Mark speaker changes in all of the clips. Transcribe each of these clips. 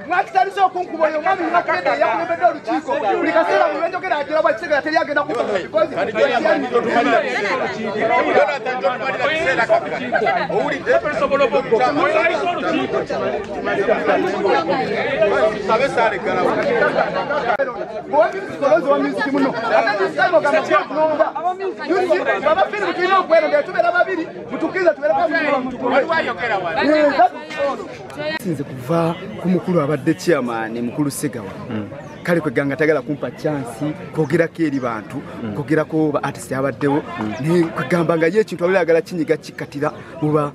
Speaker 1: mwakitandise okunkuba oyo omwami nakugenda eyakulembedde olukiiko buli kaseera buli lwenjogera ajula bwa kiseera teri agenda kukuaabafiiri tulina okweronda tubeera babiri sinze kuva ku mukulu abadde chairman mukulu segawa hmm. kale kweganga tagala kumpa chansi kwogerako eri bantu hmm. kwogerako ba artist abaddewo hmm. naye kwegamba nga ye ekintu abali agala kinyiga kikatira muba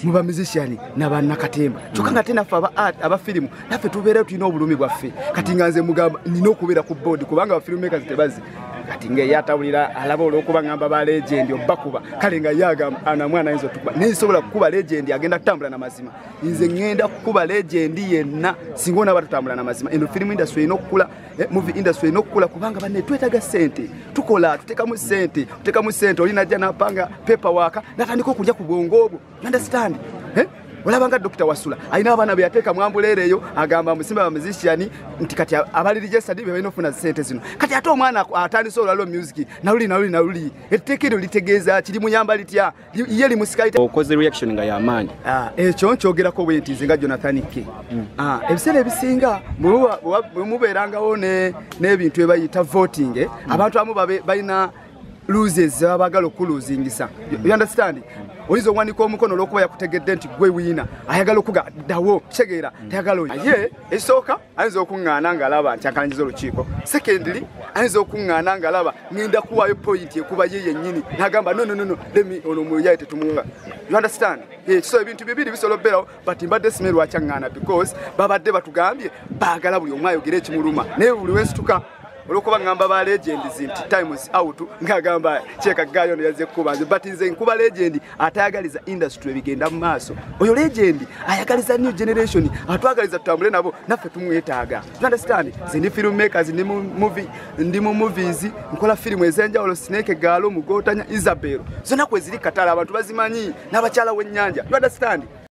Speaker 1: muba musician nabanakatemba kyokka nga ate naffe aba firimu naffe tubeerayo tulina obulumi bwaffe kati nga nze mugamba nina okubeera ku boodi kubanga bafilmmakers tebazi kati nga eyatawulira alaba olwokuba ngamba ba legendi obakuba kale nga yagamba ana mwana ayinza otukuba naye nsobola kukuba legendi agenda kutambula na mazima nze ŋŋenda kukuba legendi yenna singa onaaba tutambula na mazima eno firimu industry erina okukula eh, movie industry erina okukula kubanga banne twetaga sente tukola tutekamu sente tutekamu sente olinajja napanga pepa waaka natandika okulya ku bwongo obwo understand eh? olabanga dokita wasula alina abaana beyateeka mwambuleera eyo agamba musimba bamuzisiani nti kati abalirijestadi bebalina okufuna sente zino kati ate omwana atandise olwalo music naluli naluli naluli etteeka eryo litegeeza kiri muyamba litya ye limusikaokoze reaction nga
Speaker 2: yamaanyi ah, ekyo nkyogerako
Speaker 1: bwe nti nzinga jonathan ke hmm. ah, ebiseera ebisinga bwemubeerangawo n'ebintu ebayita voting eh, hmm. abantu amu balina loses baba bagala okuluzingisa you understand oyinza okuwanika omukono olwokuba yakutegedde nti gwe wiina ayagala okuga ddawo kitegeera mm. tayagala oyo ye ekisooka ayinza okuŋŋaana ng'alaba nti akalangiza olukiiko secondly ayinza okuŋŋaana ng'alaba ŋenda kuwaayo pointi ekuba ye yennyini nagamba nononono lemi ono omuyaye tetumuwa you understand ekiso eh, ebintu bibiri bisobola okubeerawo but mbadde sime lwakyaŋŋaana because babadde batugambye baagala buli omu ayogere ekimuluma naye buli wensituka olwokuba ngamba ba legends nti times out ngagamba kyeka gayo yaze kuba nze but nze nkuba legend atayagaliza industry bigenda mu maaso oyo legend ayagaliza new generation atwagaliza tutambule nabo naffe tumwetaaga you understand nze ndi film makers ndi mu movie ndi mu movies nkola film ezenjawulo snake galo mugotanya isabel zona kweziri katala abantu bazimanyi n'abakyala w'ennyanja you understand